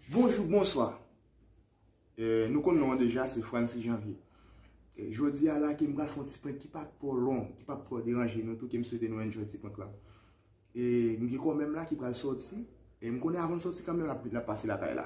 Bonjou, bonswa, nou konn non an deja se Francis Janvier. Jodi a la ke m pral fon ti prank ki pa tro long, ki pa tro deranje nou tou ke m swete nou enjoy ti prank la. E m gen kòmè m la ki pral soti, e m konnen avan l soti kanmè m la pase lakay la.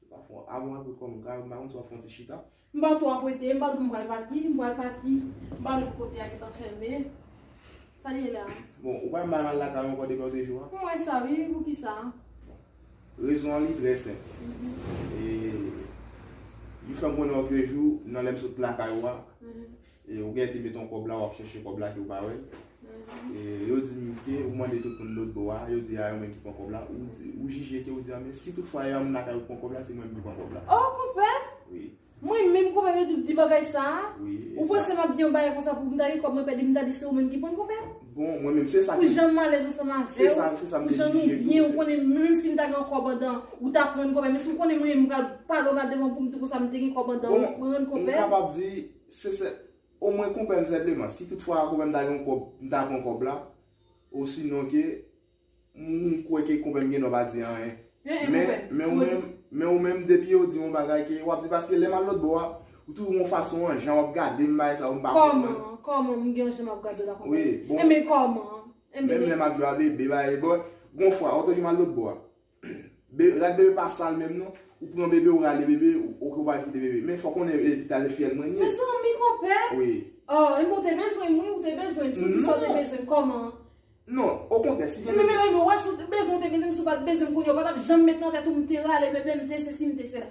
Yo pa fè yon abon ak ou kòm kay, m pa konn si w ap fè yon ti chita. M pa twò apwete, m pa di m pral pati, m pral pati, m pa wè pou kote a gentan fèmen. Sa gen la a? Bon, ou pa menm al al lakay ou ankò depi yon 2 jou a? M wè sa wi, pou ki sa? Rezon an li trè senp. Jis tan m konnen w ap 2 jou nan lè m sot lakay ou a. E ou gète met yon kòb la wap chèche kòb la ke ou pa wèl. E yo di m ke ou mande tout moun lòt bò a, yo di a yo menm ki pran kòb la. Ou jije ke ou di a men si tout fwa e yon moun lakay ou ki pran kòb la se mwen menm ki pran kòb la. Oh konpè! Wi. Mwen menm konpè mwen tou di bagay sa a? Wi. Ou panse map di yon bagay konsa pou m ta gen kòb mwen pèdi m ta di se ou menm ki pran konpè? Bon mwen menm se sa. Pou jan m alèz ansanm avèw. Se sa, se sa m te jije. Pou jan nou byen ou konnen m menm si m ta gen yon kòb andan ou ta pran konpè men si ou konnen mwen menm m pral pale w mal devan pou m di konsa m te gen kòb andan ou pran konpè. Bon m kapab di. Se sè o mwen konprann senpleman si tout fwa konpè m ta gen yon kòb m ta pran kòb la osinon ke m kwè ke konpè m gen dwa pa di anyen men ou menm depi yo di yon bagay ke wap di paske lè m al lòtbò a ou toujou gen yon fason an jan wap gade m bagay sa yo m pa konprann Kòman an kòman m gen yon jan map gade w la konpè m e men kòman an menm lè map jwe a bebe bagay bon gon fwa otoje m al lòtbò a Rad bebe pa sal menm non. Ou pran bebe ou rale bebe ok ou pa kite bebe men fò konnen epital e fyèl mwen ye. Mezanmi konpè Aww enben ou te bezwenm wi ou te bezwenm si ou di sa ou te bezwenm kòman. Non okontrè si gen medsen. Menm wè si ou te bezwenm ou te bezwenm si ou pat bezwenm kounye ou patap janm met nan tèt ou m te rale bebe m te sesi m te sela.